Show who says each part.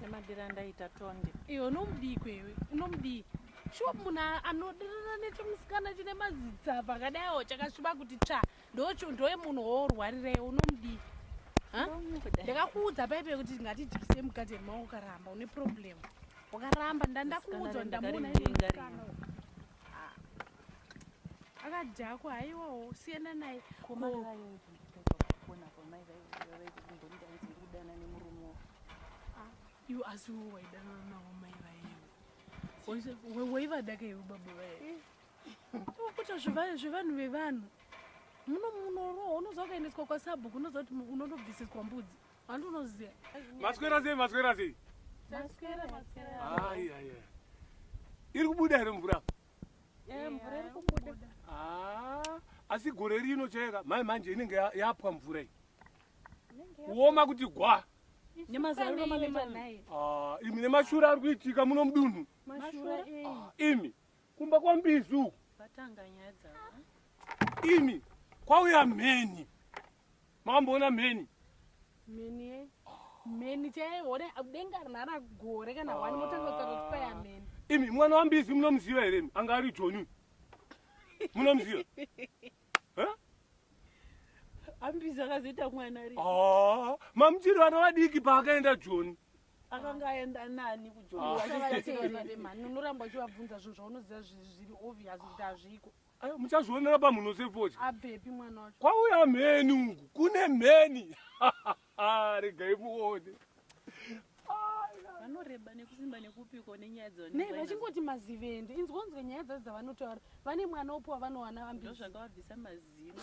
Speaker 1: Nemadira ndaita tonde. Iwe unomudii
Speaker 2: kwewe? Unomudii? Shuwa munhu anodirana nechimusikana chine mazitsa pakadaiwo chakasviba kuti tsva ndochondoye munhu woorwarira iwe unomudii? Ndakakuudza paipe kuti ngatidyise mukati yemaoko ukaramba une problem. Ukaramba ndandakuudzwa ndamuona ine musikana. akadhakwa haiwawo
Speaker 1: siyana naye
Speaker 2: iwe asi wo waidanana navo mai vayevo waivadaka iwe baba vaye kuita zvevanhu vevanhu muno munorohwa unoziva ukaendeswa kwasabhuku unoziva kuti unondobvisiswa mbudzi Andonoziva. Maswera sei
Speaker 3: maswera sei? Maswera
Speaker 2: maswera.
Speaker 3: Ai ai ai. Iri kubuda here mvura? Eh mvura iri
Speaker 2: kubuda. Ah
Speaker 3: asi gore rino cheka mai manje inenge yapwa mvura iyi. Kuoma kuti gwa. Nemazariro
Speaker 2: mane manayi. Ah imi
Speaker 3: nemashura ari kuitika muno mudunhu. Mashura eh. Ah,
Speaker 2: imi.
Speaker 3: kumba kwambizi uku vatanga nyaya
Speaker 1: dzavo
Speaker 3: ini kwauya mheni mamboona mheni mheni ye
Speaker 2: mheni chaione denga rinara gore kana wani motanga kutaura kuti kwaya mheni imi mwana wambizi
Speaker 3: munomuziva here anga ari joni munomuziva
Speaker 1: ambizi akazoita mwana ri ah, mamuchiri
Speaker 3: vana vadiki paakaenda joni akanga aenda
Speaker 1: nani kujoanoramba
Speaker 2: uchivabvunza zvinhu zvaunoziva zviri obvious kuti hazviko ayo muchazvionera
Speaker 3: pamhuno sefoja abvepi mwana wacho
Speaker 2: kwauya mheni uku
Speaker 3: kune mheni regai muone
Speaker 1: vanoreba nekusimba nekupiko nenyaya dzonei vachingoti mazivendi
Speaker 2: inzwonzwe nyaya dzadzo dzavanotaura vane mwana upo wavanowana vambizvakavabvisa mazino